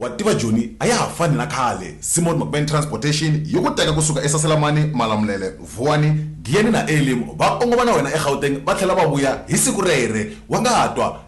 wa tiva joni a ya ha fani na khale simon mcman transportation yi ku teka kusuka esaselamani malamulele vuwani giyani na elim va kongoma na wena egauteng va tlhela va vuya hi siku rere wa nga ha twa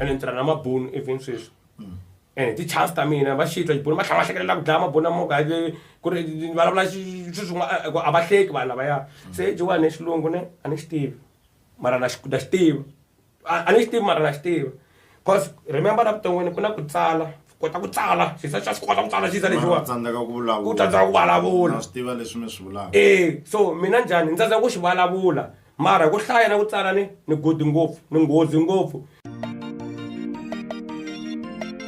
ene ni tirha na mabunu even sweswi ene eh, ti-chance ta mina va xitla xibunu va tlhela va hlekelela ku dlaya mabunu amoka ku ri ni vulavula swilo swin'wana eh, a va hleki vanhu lavaya se jiwani xilungu ne a ni xi tivi mara na xi tiva a ni xi tivi mara na xi tiva cause remember na vuton'wini ku na ku tsala kota ku tsala xisa xa swi kota ku tsala xisa lexiwa ku tsandzeka ku vulavula swi tiva leswi mi swi vulaka e so mina njhani ni tsandzeka ku xi vulavula mara hi ku hlaya na ku tsala ni ni good ngopfu ni nghozi ngopfu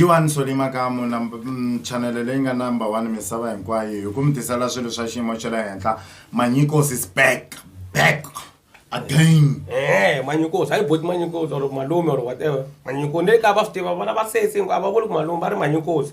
G1 Soli Makamu number mm, channel leyi nga number 1 misava hinkwayo hi ku mi tisela swilo swa xiyimo xa le henhla Manyikosi is back back again eh Manyikosi hayi boti Manyikosi or malume or whatever Manyikosi ne ka va swi tiva vona va sesi hinkwavo va vuli ku malume va ri Manyikosi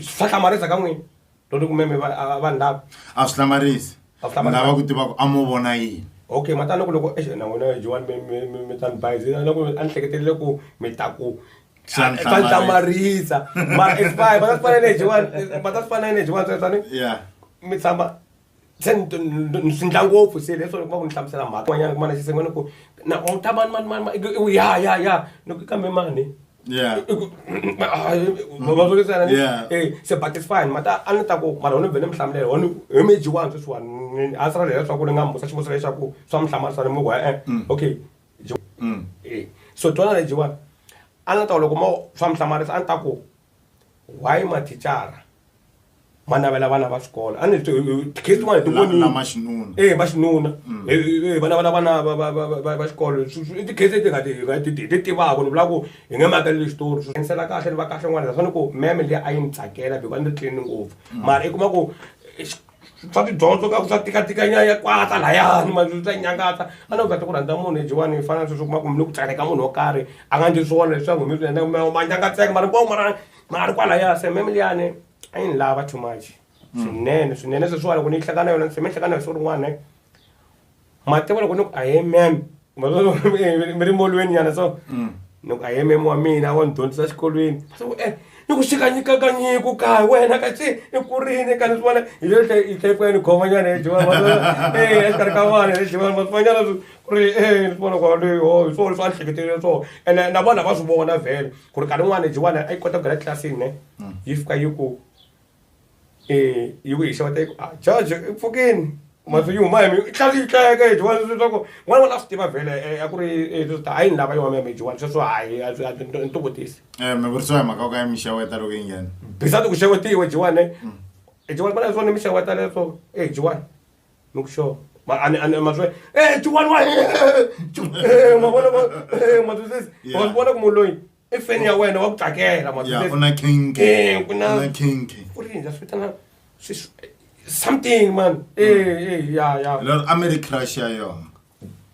swa hlamarisa ka n'wina loko kumeme vanhu lava a swi hlamarisi lava ku tiva ku a mo vona yini okay matani loko loko exi na n'wina joan mi ta ni bayizi loko a ni hleketelele ku mi ta ku swa ni hlamarisa mara expire va ta swi fanele hi joan va ta swi fanele hi joan tsani mi tshama se ni swi ndla ngopfu se leswo loko va ku ni hlamusela mhaka yin'wanyana ku mana xi senga ni ku na u ta mani mani mani i ku ya ya ya ni ku kambe mani se but it's fine mara a ni ta ku mara u ni vhe ni mi hlamulela one hi mi dyiwani sweswiwani a swi rhandza leswaku ni nga mu vutisa xivutiso lexaku swa mi hlamarisa ni mu ku e-e okay so twana ni dyiwani a ni ta ku loko mo swa mi hlamarisa a ni ta ku. why mathicara ma navela vana va swikolo a ni ri tikhesi tin'wana ti vonile lama xinuna e va xinuna Mm. Eh, eh, eh, va navela vana va- va- va- va- va- va xikolo Swi- swi- i tikhesi leti nga ti- hi nga ti- hi ti tivaka ni vula ku hi nge makeleli xitori swi ensela kahle ni va kahle n'wana naswona ni ku meme leyi a yi ni tsakela biko a ni ri tlini ngopfu mara i kuma ku eh, xi- swa tidyondzo ka ku swa tikatika nyaya kwata layani manje swa nyangatsa a no vata ku rhandza munhu hi jiwani hi fana sweswi kuma ku mi ni ku tsaneka munhu wo karhi a nga ndzi swona leswi swa n'wi mi swi endla ma nyangatseka mara nkovo mara mara kwalaya se mem liyani a yi ni lava too much swinene swinene sweswiwa loko ni yi hlekana yona se mi hlekana hi swo rin'wana Matiko loko ni ku a amen mi ri molweni nyana so mm. ni ku a amen wa mina wa ni dyondzisa xikolweni so ku eh ni ku xika nyika ka nyiku ka wena ka xi i kurini ka ni swi vona hi le tlhe hi tlhe ku ya ni khoma nyana hi jiwa eh exikarhi ka vana hi jiwa ma swi vanyana ku ri eh ni swi vona ku ri ho hi swona swa nhleketelile swona ene na vona va swi vona vhele ku ri ka rin'wana jiwana a yi kota ku nghena tlilasini ne mm. yi fika yi ku yi ku yi xeweta yi ku a jaji i pfukini masi yi huma hi mi i tlhela yi tleka hi dyiwani sweswi leswaku n'wana wona a swi tiva vhele a ku ri leswi ta a yi ni lava yona ya mi dyiwani sweswo hayi ni tivutisi um mi vuriso hi mhaka ku ka yi mi xeweta loko yi nghena bisati ku xewetiwe dyiwani i dyiwani vana leswo ni mi xeweta leswo e dyiwani ni ku xo maswe e dyiwani wa mavona matwisisi wa swi vona ku munhu loyi i feni ya wena wa ku tsakela ma ya ku na kinki eh ku na na kinki ku ri ndza fitana something man eh eh ya ya lo a mi ri crush ya yona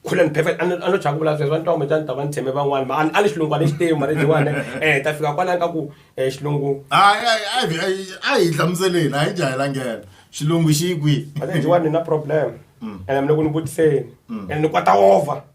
couldn't perfect ano ano chaka vula sweswo ntomo jani ta van tsheme van'wana ma a le xilungu a le xitemu mara jiwana eh ta fika kwala ka ku eh xilungu hayi hayi hayi a hi hlamuseleni a hi jahilangela xilungu xi kwi a jiwana ni na problem mm. and mina ku ni vutiseni mm. and ni kwata over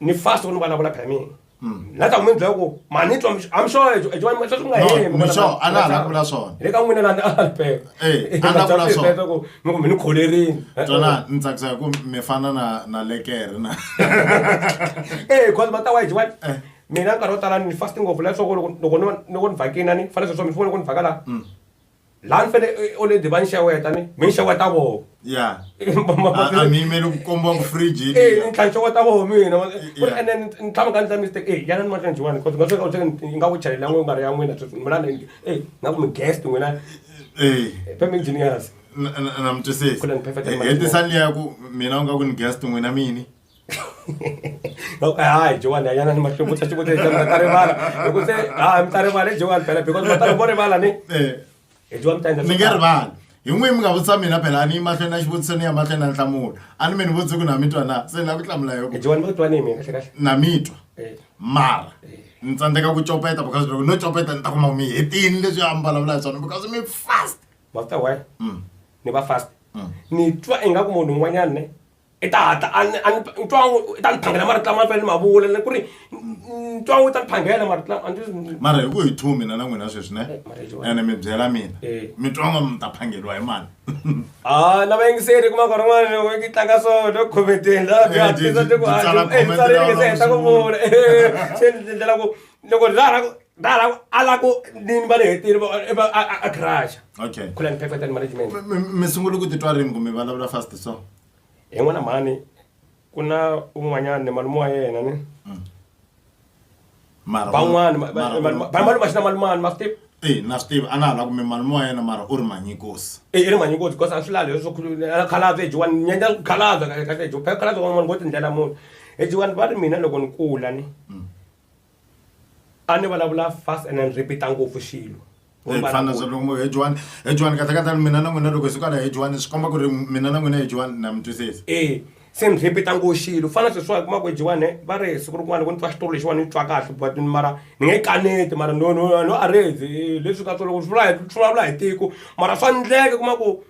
ni fast ku ni vulavula phela mina na ta n'wini byela ku ma ni twa i'm sure ejo ejo wani sweswi ku nga No, heli ni sure, a na ha la ku vula swona. le ka n'wina lani a ni peka Eh, a na vula swona. ku mi ku mi ni kholerini tsona ni tsakisa hi ku mi fana na na lekere na eh cause mata wa jiwa Eh. mina nkarhi wo tala ni fast ngopfu leswaku loko loko no loko ni vhakina ni fanele sweswo mi fone loko ni vhaka la laha ni fanele i- already va ni xeweta ni mi ni xeweta voho ya a mi yimeli ku kombiwa ku fridge Eh, ni tlhantlha wa ta voho mina Wa- ku ri Yeah. ene ni- ni tshama ka ndla mistake eh yana ni matlhantlha wani cause ngasweka u tlhela ni nga ku chalela n'we nga ri ya n'wina sweswi mina ni eh na ku mi guest n'wina Eh, pem engineers na- na- na mi twisisi Kule ni perfect man. hetisani liya ku mina u nga ku ni guest n'wina mini hayi jowani anyana ni mahluvutsa xivutiso mi ta rivala hi ku se ha mi ta rivala hi jowani phela because va ta loko vo rivala ni Eh, hi jowani mi ta endla ni swo nge tala. rivali hi n'wi mi nga vutisa mina phela a ni yi mahlweni na xivutiso ni ya mahlweni na nhlamulo a ni mi ni vutisi ku na mi twa na se ni lava ku hlamula hi yoku jowani mi twa ni mi kahle kahle na mi twa Eh, mara ni tsandzeka ku copeta because loko no copeta ni ta kuma mi hetini leswi a mi vulavula hi swona because mi fast ma swi ta why Mm. ni va fast Mm. ni twa ingaku munhu un'wanyana ne i ta hatla a ni a ni ntwangu i ta ni phangela marito lama ni fanele ni ma vula ni ku ri ntwangu i ta ni phangela marito lama a ni swi- mara hi ku hi two mina na n'wina sweswi ne ene mi byela mina Eh. mi twanga mi ta phangeriwa hi mani Ah, na vayingiseri kuma nkarhi un'wana loko yi tlanga so no khomenteni la bya Eh, ti- tisa ti ku ti tsala comment lawa se heta ku lawa vula se ni endlela ku loko ra ra ku alako nini va le hetini a garage okay khulani perfect and management mi sungule ku titwa rini kumbe vulavula fast so hi n'wana mhani ku na un'wanyana ni malume wa yena ni mm. van'wana malume xi na malumani ma swi tivi e na swi tivi a na ha la kumbe malume wa yena mara u ri manyikosi e i ri manyikosi because a swi lali leswo khalaza ejiwani nyanya khalaza kahle ejiwa phela khalaza wan'wana ngo tindlela munhu ejiwani va ri mina loko ni kula ni mm. a ni vulavula fast and then repeata ngopfu xilo efanazalongohejuwani hejuwani katakatani mina na n'wina loko hi sukala hejuwani swi komba ku ri mina na n'wina hejuwani na mi twisisa e se ni repeata ngo xilo fana sweswiwa hi kumaka hejuwani va ri siku rin'wana ku ni twa xitori lexiwani ni twa kahle but mara ni nge kaneti mara no no no a rezi leswi ka swo loko swi vula hi swi vulavula hi tiko mara swa ndleka kuma ku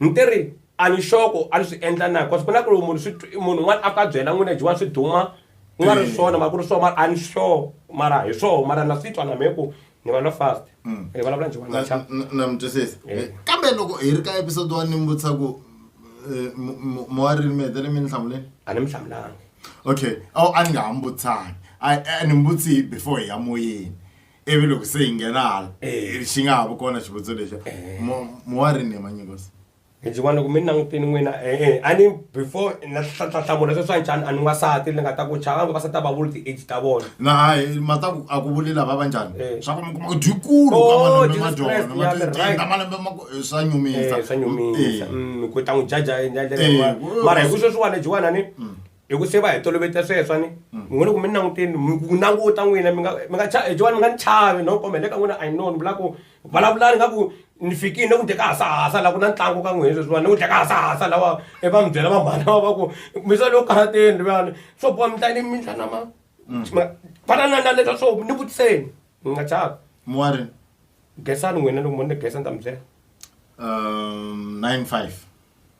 ni ti ri a ni xoko a ni swi endla na cause ku na ku loko munhu swi twi- munhu un'wana a fika a byela n'wina jiwa swi duma ku nga ri Mm. swona mara ku ri swona mara a ni sure mara hi swona mara na swi twa na mehe ku ni vulavula fast Mm. ni vulavula njiwa Na- naxa na- na mi twisisa Eh. kambe loko hi ri ka episode one ni mi vutisa ku eh, mo- mo- moya rini mi hetele mi ni hlamuleni a ni mi hlamulanga okay awu a ni nga ha mi vutisanga a a ni mi vutisi before hi ya moyeni ivi loko se hi nghena hala Eh. xi nga ha vi kona xivutiso lexa Eh. Mo- mowarini hi manyikosi ndzi vona ku mi langutini n'wina e-e a ni before na hlamula sweswi a njhani a ni n'wasati ni nga ta ku chava vavasati a va vuli ti-age ta vona na hayi mataku a ku vuli lava va njhani Eh. swa ku mi kuma ku dyikulu Oh, ka malembe ma Jesus dyona Christ, ma yeah, ti- right. tinda malembe ma ku- eh, swa nyumisa Eh, swa nyumisa Eh. Mm, ku ta n'wi jaja hi ndlela Eh, leyi yin'wana. wo- mara hi ku sweswiwani jiwanani hi ku se va hi tolovete sweswo ni n'wina loko mi ni languteni mi ku languta n'wina mi nga mi nga cha jovani mi nga ni chavi no kombe le ka n'wina i know ni vula ku vulavulani nga ku ni fikile ni ku dye ka hasahasa la ku na ntlangu ka n'wina sweswiwani ni ku dya ka hasahasa lawa e va mi byela va mhana va va ku mi sale yo karateni luyani swo boha mi tla ni mi tla na ma fana na na leswa swo ni vutiseni ni nga chavi muwari gesani n'wina loko mo ni gesa ni ta mi byela um 95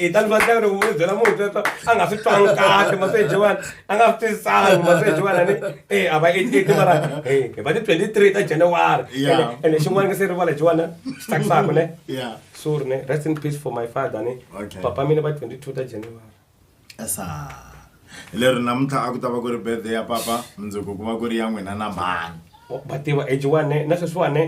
i ta ni vatla ri u byela munhu sweswo a nga swi twangi kahle maseji wani a nga swi twisisani maseji wani ni e a va i ti mara hi va ti twenty three ta january ene xin'wana nge se rivala jiwana swi tsakisaka ne sorry ne rest in peace for my father ne papa mina va twenty two ta january esa leri namuntlha a ku ta va ku ri birthday ya papa mundzuku ku va ku ri ya n'wina na mhani va tiva age one na sweswiwani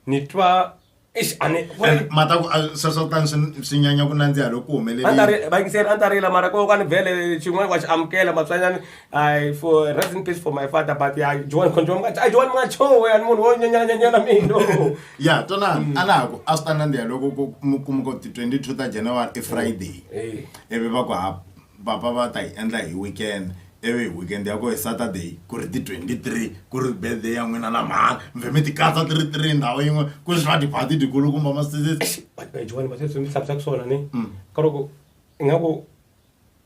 ni twa eish a ni ku ri- mata ku a- sweswo kutani swi swi nyanya ku nandziha loko ku a ni ta humelerile ri- va yingiseri a ni ta rila mara ko ka ni vhele xin'wana wa xi amukela matswanyani i for rest in peace for my father but ya joan control mga a joan mga chowe a ni munhu wo nyanyanyanyana mino ya tona a na ha ku a swi ta nandziha loko ku mu- kuma ku ti 22 ta january i friday Eh. ivi va ku ha papa va ta yi endla hi weekend ivi hi weekend ya koho hi Saturday ku ri ti twenty three ku ri birthday ya n'wina la mhani mi vhe mi ti katsa ti ri three ndhawu yin'we ku ri swa tiphati tikulukumba masisisi vadyuhani va sweswi mi tshamisa ku swona ni Mm. ka loko ingaku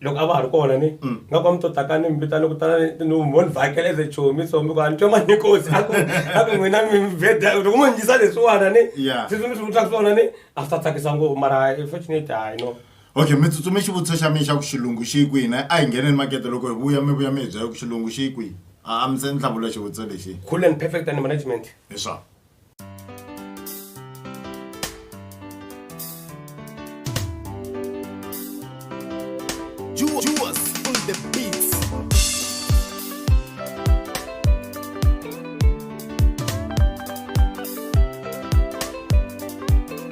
loko a va ha ri kona ni Mm. nga ku a mi to takani mi vitana kutana no mo ni vhakela as a chomi so mi ku a ni twa mani kosi a ku a ku n'wina mi veda loko mo ni yisa leswiwana ni Yeah. sweswi mi swi vutaka swona ni a swi ta tsakisa ngopfu mara unfortunate hayi no Okay mi tsutsume xivutiso xa mina xa ku xilungu xi yi kwihi na a hi ngheneni makete loko hi vuya mi vuya mi hi byela ku xilungu xi yi kwihi a a mi se ni hlamula xivutiso lexi cool and perfect and management hi swona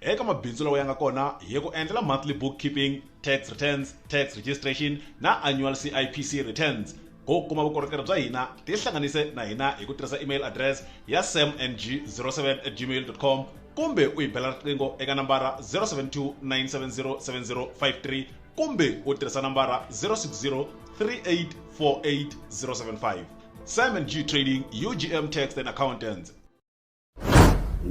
eka mabindzu lawa ya nga kona hi ku endlela monthly bookkeeping tax returns tax registration na annual cipc returns ku kuma vukorhokeri bya hina tihlanganise na hina hi ku tirhisa email address ya samng07 at gmail com kumbe u yi bela riqingho eka nambara 072 970 7053 kumbe u tirhisa nambara 060 3848 075 samng trading ugm tax and accountants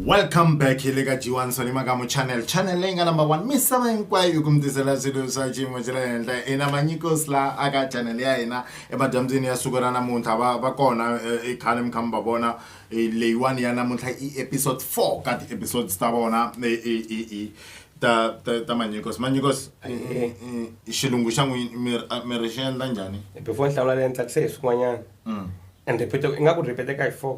welcome back hi le ka g1 soni makamu channel channel leyi nga number one misava hinkwayo yi ku mi tisela swilo swa xiyimo xa le henhla i na manyikos la aka channel ya hina emadyambyini ya siku ra namuntlha va va kona eh, i khale mi kha mi va vona eh, leyiwani ya namuntlha i episode 4 ka ti-episodes ta vona eh, eh, eh, eh, ta ta- ta manyikos manyikos eh, eh, eh, xilungu xa n'wini mi ri- ah, mi ri xi endla njhani before ni hlawula le ni tsakise hi swin'wanyana Mm. and repeat ingaku ripeteka hi four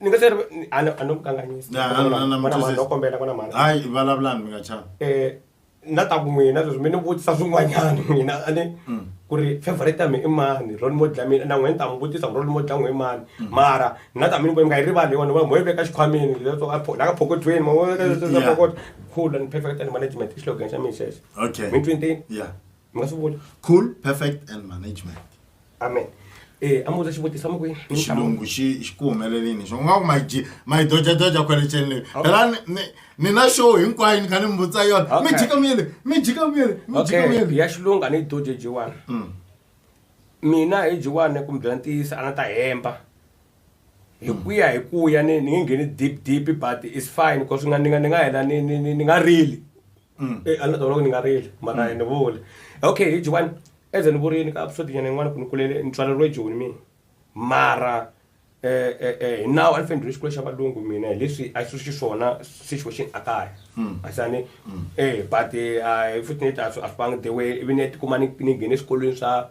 ni nga se ri ni- a ni- a no ku kanganyisa Na- na- na- na- Kwana mhani, no kombela kwana mhani hayi vulavulani mi nga chava eh na ta ku n'wina sweswi mi ni vutisa swin'wanyana n'wina a ni Mm. ku ri favorite ya mi i mani role model ya mina na n'wina ni ta mi vutisa ku role model ya n'we i mani Mm. mara na ta mi ni ku mi nga yi rivali yona va mo yi veka xikhwameni leswo a pho- la ka phokotweni mo yi veka leswo- leswo Yeah. phokotwa. cool and perfect and management i xilogan xa mina xexo okay mi twenty yeah mi nga swi vula cool perfect and management amen Eh, a muvudza xivutiso a mukwini xilungu xi xi ku humelelini xo nga ku maji mayi dojadoja kwale ceni leyi phela ni- ni- ni na show hinkwayo ni kha ni mi vutisa yona mi Okay. jika muyele mi jika muyele mi jika okay muyele ya xilungu a ni yi doje jiwani Mm. mina hi jiwani ku mi byela ntiyiso a na ta hemba hi ku ya hi ku ya ni ni nge ngheni deep deep but is fine because ni nga ni nga ni nga hela ni ni ni ni nga rili Mm. Eh, ala tolo ni nga rili mara mm. ni vule okay hi jiwani eze ni vurini ka episode nyana yin'wana ku ni kulele ni tswaleriwe joni mina mara eh, eh, eh, now a ni fanele ni xikolo xa valungu mina hi leswi a swi xiswona situation a kaya mm. a xani mm. eh but eh, futhi ni ta a swi vangi the way ivi ni ya tikuma ni ni nghene eswikolweni swa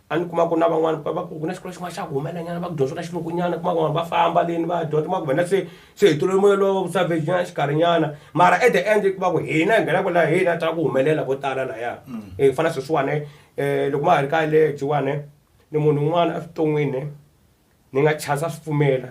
a ni kuma ku na van'wani va va ku ku na xikolo xin'wana xa ku humelanyana va ku dyondzo ka xilungunyana kuma van'wani va famba leni va dyondza kuma ku vana se se hi tolole moya lowo savage nyana xikarhinyana mara at the end kuma ku hina hi nghenaka laha hina ta ku humelela ko tala laya mm. hi fana sweswiwani um loko ma ha ri kaya le jiwani ni munhu un'wana evuton'wini ni nga chasa swi pfumela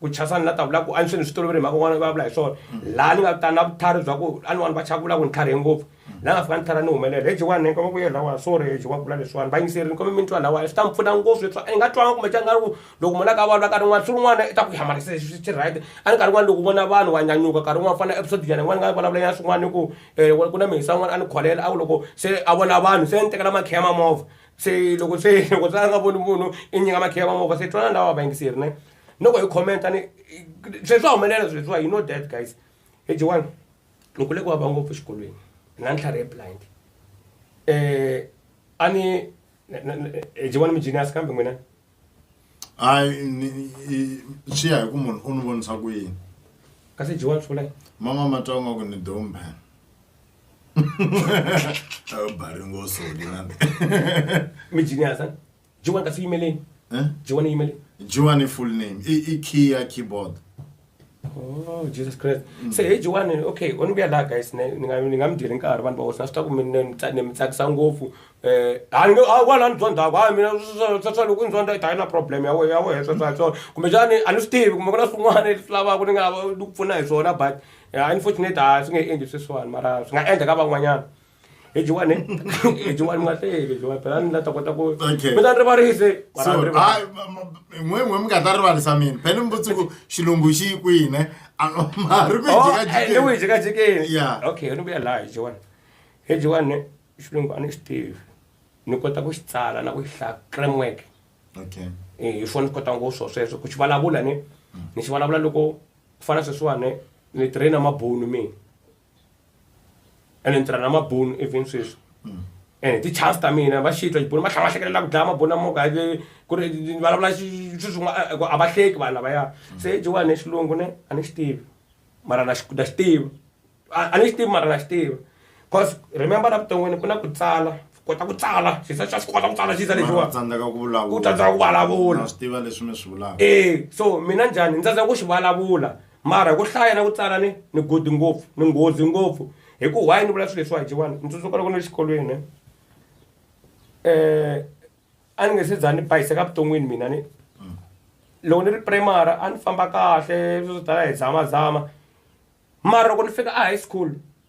ku chasa ni la ta vula ku a ni swi ni swi tolovele mhaka un'wana vulavula hi swona laha ni nga ta na vutlhari bya ku a ni vanhu va chava ku vula ku ni tlharihe ngopfu laha nga fika ni tlhela ni humelela heji wani ni koma ku yela wa sorry heji wa vula leswiwani va yingiseri ni kome mi ni twa lawa swi ta ni pfuna ngopfu leswi i nga twanga kumbe xana nga ri ku loko munhu a ka vulavula nkarhi wun'wana swi rin'wana i ta ku hamarisa leswi swi right a ni nkarhi wun'wana loko vona vanhu wa nyanyuka nkarhi wun'wana fana episode nyana yin'wana nga vulavula ya swin'wana ni ku um ku na mihisa wun'wana a ni kholela a ku loko se a vona vanhu se ni tekela makhiya ma movha se loko se loko se a nga voni munhu i nyika makhiya va movha se twanana lawa va yingiseri ne noko hi commenta ni sweswi swa humelela sweswiwa you know that guys hi jiwani ni kule ku vava ngopfu exikolweni na ntlhari ye blind um a ni jiwani mi genius kambe n'wina hayi ni i- swi ya hi ku munhu u ni vonisa ku yini kasi jiwa tlula mama matsongo ku ni dombe bari ngoso lina mi jiniasa jiwa kasi yimeleni Eh? jiwa ni yimeleni jiwani full name i, i key ya keyboard Oh, Jesus Christ. Mm. Se age one okay, u ni vuya laha guys ni nga ni nga mi dyeli nkarhi vanhu va hosi na swi ta ku mi ni mi tsakisa ngopfu. Eh, a ni a wala ni dyondza ku a mina swa swa loko ni dyondza i ta na problem ya wena ya wena swa swa swa. Kumbe xana a ni swi tivi kumbe ku na swin'wana leswi lavaka ni nga ni ku pfuna hi swona but unfortunately a swi nge endli sweswiwani mara swi nga endla ka van'wanyana. ejiwani ejiwani mwahleke jiwani phela ni la ta kota ku Okay. mi ta ni rivarise mara So, ni rivarise. hayi, ma- ma- n'we n'we mi nga ta rivalisa mina phela mi vutsi ku xilungu xi yi kwihi ne A- ma ri ku yi Oh, eh, ni jikajikeni. wi jikajikeni Yeah. okay ni vuya laha ejiwani ejiwani xilungu a ni xi tivi ni kota ku xi tsala na ku xi hlaya framework Okay. Eh, hi swona ni kota ngopfu swo sweswo ku xi vulavula ni ni xi vulavula loko ku fana sweswiwani ni traina mabunu mina ene ni tirha na mabunu even sweswi mm. ene ti-chance ta mina va xitwa xibunu va tlhava hlekelela ku dlaya mabunu amoka ku ri vulavula sweswin'wa a va hleki vanhu lavaya mm. se jowa ni xilungu ne a ni xi tivi mara na xi tiva a ni xi tivi mara na xi tiva cause remember la vuton'wini ku na ku tsala kota ku tsala xisa xa swi kota ku tsala xisa lexiwa tsandzeka ku vulavula u tsandzeka ku vulavula swi tiva leswi mi swi vulaka e so mina njhani ni tsandzeka ku xi vulavula Mara hi ku hlaya na ku tsala ni ni good ngopfu ni nghozi ngopfu hi ku why ni vula swilo leswiwa hi jiwani ni tsundzuka loko ni ri xikolweni um a ni nge se za ni bayiseka vuton'wini mina ni loko ni ri primary a ni famba kahle swo tala hi zamazama mara loko ni fika a high school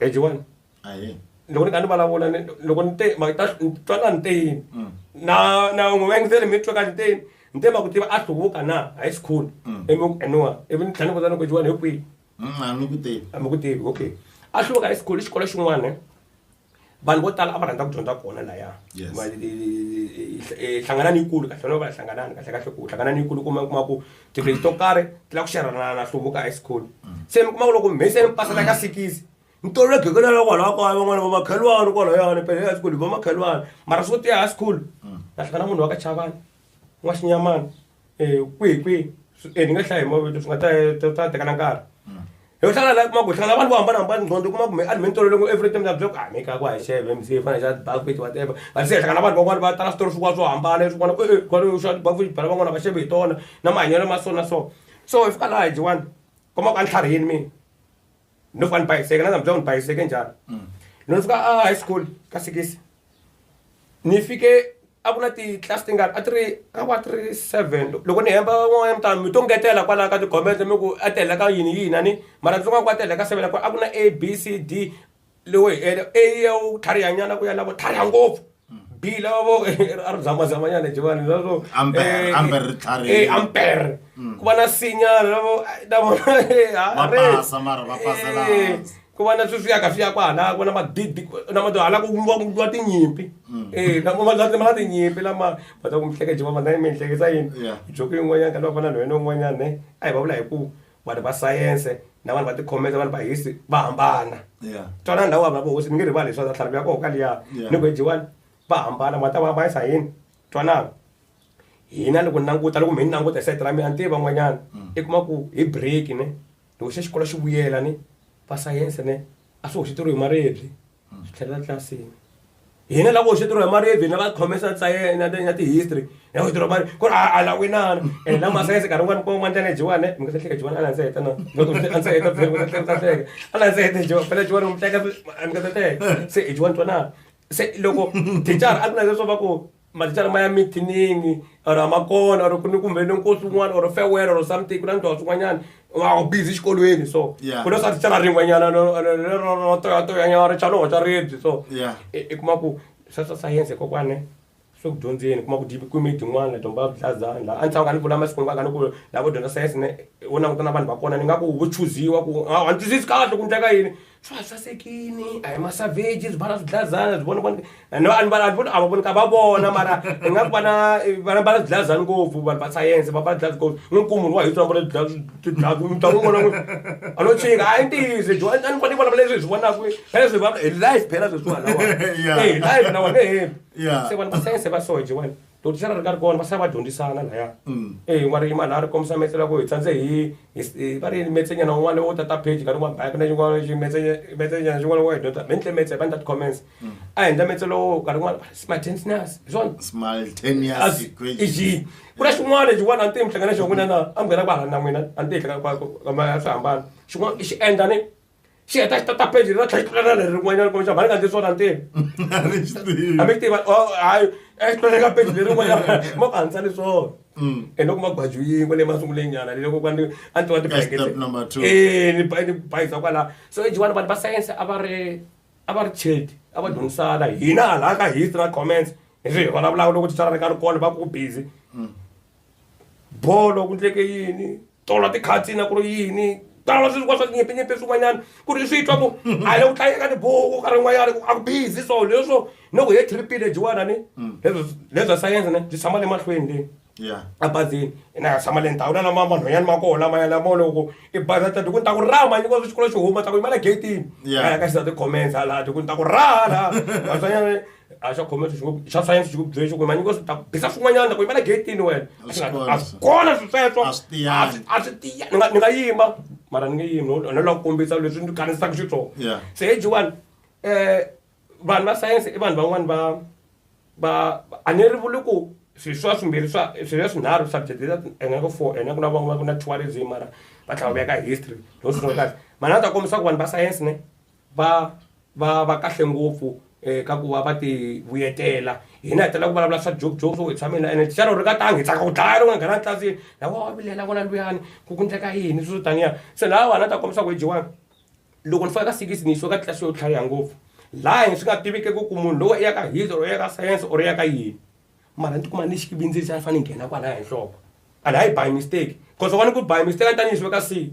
ejiwani ahee loko ni kha ni vulavula ni loko ni te ma ta ni twa nga ni te yini Mm. na na n'wi vengizeli mi twa ka ni te yini ni te ma ku tiva a hluvuka na high school Mm. ivi ku eniwa ivi ni tlhela ni vutana ku jiwani hi kwihi Mm, a ni ku tivi a mi ku tivi okay a hluvuka high school i xikolo xin'wana vanhu vo tala a va rhandza ku dyondza kona laya hlangana ni yikulu kahle no va hlanganani kahle kahle ku hlangana ni yikulu kuma kuma ku tigrade to karhi ti lava ku xerhana na hluvuka high school se mi kuma ku loko mi se ni pasela ka sikisi ni tolovele ghekelana la kwalaho kaya van'wana va makhelwani kwalayani pele high school hi va makhelwani mara swo tiya high school na hlangana munhu wa ka chavani n'waxinyamani kwihi kwihi ni nga hlaya hi mavito swi nga ta ta ta tekana nkarhi hi ku hlangana la kuma ku hlangana vanhu vo hambanahambana nqondo kuma kumbe a ni mi ni tolovele ku every time na byela ku a mi ka ku a hi xeve mc hi fana hi xa bucket whatever but se hi hlangana vanhu van'wana va tala switori swin'wana swo hambana leswi vona e kwale xa bucket bela van'wana va xeve hi tona na mahanyelo ma so na so so hi fika laha hi dyiwani kuma ku a ni tlharihini mina no fana bhayiseke na namhlanje ngibhayiseke njalo mm. no ni fika a high school ka sikisi ni fike a ku na ti-class ti nga a ti ri ka wa ti ri seven loko ni hemba n'wana mutano mi to ngetela kwalaho ka tigomende mi ku a tihela ka yini yini ani mara ndzi nga ku a tihela ka seven a ku na a b c d lowo hi ele a ya wu tlharihanyana ku ya lavo tlhariha ngopfu bila va vo a ri zamazamanyana jivani va vo amper ku va na sinyana va vo na vona ku va na swi swi yaka swi ya kwahala ku na madidi na mado hala ku wa tinyimpi e lama ma ma tinyimpi lama va ta ku mihleke jivama na mi mihlekisa yini joko yin'wanyana ka lava fana na wena un'wanyana ne a hi va vula hi ku vanhu va sayense na vanhu va tikhomesa vanhu va history va hambana Yeah. twanana na wava vohosi ni nge rivali leswaku tlhalaku ya koho ka liya Yeah. ni ku ejiwani va hambana vanhu ta va hambanyisa hi yini twanana hina loko ni languta loko mi ni languta hi sayiti ra mina a ni tivi van'wanyana i kuma ku hi break ne loko se xikolo xi vuyela ne va sayense ne a swi hoxeteriwe hi maribye swi tlhelela tlilasini hina lava hoxeteriwa hi maribye na va khomesa ntsayena na ti-history na hoxeteriwa mari ku ri a la winana and la masayense nkarhi wun'wana kwan'wana ndlela jiwana mi nga ta hleka jiwana a landza heta na loko a ndza heta phela mi nga ta hleka ta hleka a landza heta jiwa phela jiwana mi hleka mi nga ta hleka se jiwana twanana se loko thicara a ku na leswo va ku mathicara ma ya mithinini or a ma kona or ku ni kumbe ni nkosi un'wana or farewell or something ku na ndhawu swin'wanyana wa u busy xikolweni so ku na swa thicara rin'wanyana ro toyatoyanyana ri chaloho xa ribyi so i kuma ku swa swa sayense kokwane swi ku dyondzeni kuma ku dyi kwimi tin'wana dyomba vuhlazani laha a ni tlhava ka ni vula masiku hinkwayo ka ni ku lava dyondza sayense ne wo languta na vanhu va kona ni nga ku vo chuziwa ku a ni twisisi kahle ku ndleka yini swa ha sasekini a hi masavage swi bala swidlazana swi vona a va vonika va vona mara hi nga vana vana bala swidlazana ngopfu vanhu va sayense va bala dlazi ngopfu ni nkumu wa hi swi vona dlazi mutlangu wun'wana a no chinga a yi ntiyizi jo a ni fanele vona leswi hi swi vonaka phela swi va hi life phela sweswiwalawa hi life na wena he se vanhu va sayense va soje wena Doctor a ri karhi kona va sala va dyondzisana laya mm. e eh, n'wari yimana a ri kombisa metse la ku hi tsandze hi va ri metsenyana un'wana wo tata page nkarhi un'wana bike na xin'wana xi metsenyana xin'wana wo dyondza mi ndle metse va ni that comments mm. a hi ndla metse lowo nkarhi un'wana smartness hi swona smartness iji ku na xin'wana xin'wana a ni tihi mi hlangana xona n'wina na a mi nghena ku hala na n'wina a ni tihi hlangana ka ma swi hambana xin'wana xi endla ni xi heta xi tata page ra tlhatlhana leri rin'wanyana kumbe xa mhani nga ndzi swona ntirho a mi xi tivi a mi xi tiva oh, hayi exitwana ka page leri rin'wanyana ma ku hanisa ni swona mm. and loko magwaju yin'we leyi masunguleni nyana leyi loko kwani a ni tiva tibayekete eh, ni bayisa kwala so ejiwani vanhu va sayense a va ri a va ri chedi a va dyondzisana hina hala ka history na comments hi swi hi vulavulaka loko titswala ri nga ri kona va ku busy mm. bolo ku ndleke yini tona tikhatsi na ku ri yini tala swi swi kwa swa tinyepinyepe swin'wanyana ku ri swi twa ku a le ku tlangeka tibuku ka rin'wanyana ku a ku busy so leswo ni ku he tripile jiwana ni leswo leswa sayense ne byi tshama le mahlweni le ya a bazini ina ya tshama le ndhawu na lama vanhwanyana ma koho lama ya lamo loko i bazi a tati ku ni ta ku rama nyiko swi xikolo xi huma ta ku yimela gate-ini Yeah. a ya ka xisati comments hala ti ku ni ta ku raha laha vatswanyana a swa khome swi swa science swi ku byele swi ku manyingi wa swi ta bisa swin'wanyana ku yimela getini wena A swi kona a swi sweswo. kona swi sweswo A swi tiyanga. A swi tiya ni nga ni nga yima mara ni nge yimi no no la ku kombisa leswi ni kanisaka xitsongo Yeah. se hi jiwani um vanhu va sayense i vanhu van'wani va va a ni ri vuli ku swi swa swimbirhi swa swi ya swinharhu subject leta ene ku four ene ku na van'wana ku na tourism mara va tlhela va veka history no swi kahle mara a ta kombisa ku vanhu va sayense ne va va va kahle ngopfu ka ku va va ti vuyetela hina hi tala ku vulavula swa joke joke swo hi tshame na ene xana u ri ka tangi hi tsaka ku dlaya loko nga nghena tlilasini la wa wa vilela n'wana luyani ku ku ndleka yini swo taniya se laha wani a ta kombisa ku hi jiwani loko ni fika ka sikisi ni yisiwa ka tlilasi yo tlhariha ngopfu laha hi swi nga tiviki ku ku munhu lowu i ya ka history or i ya ka science or i ya ka yini mara ni tikuma ni xi vindziri xa ni fanele ni nghena kwalaya hi nhloko and hayi by mistake cause wani ku by mistake a ni ta ni yisiwe ka siyi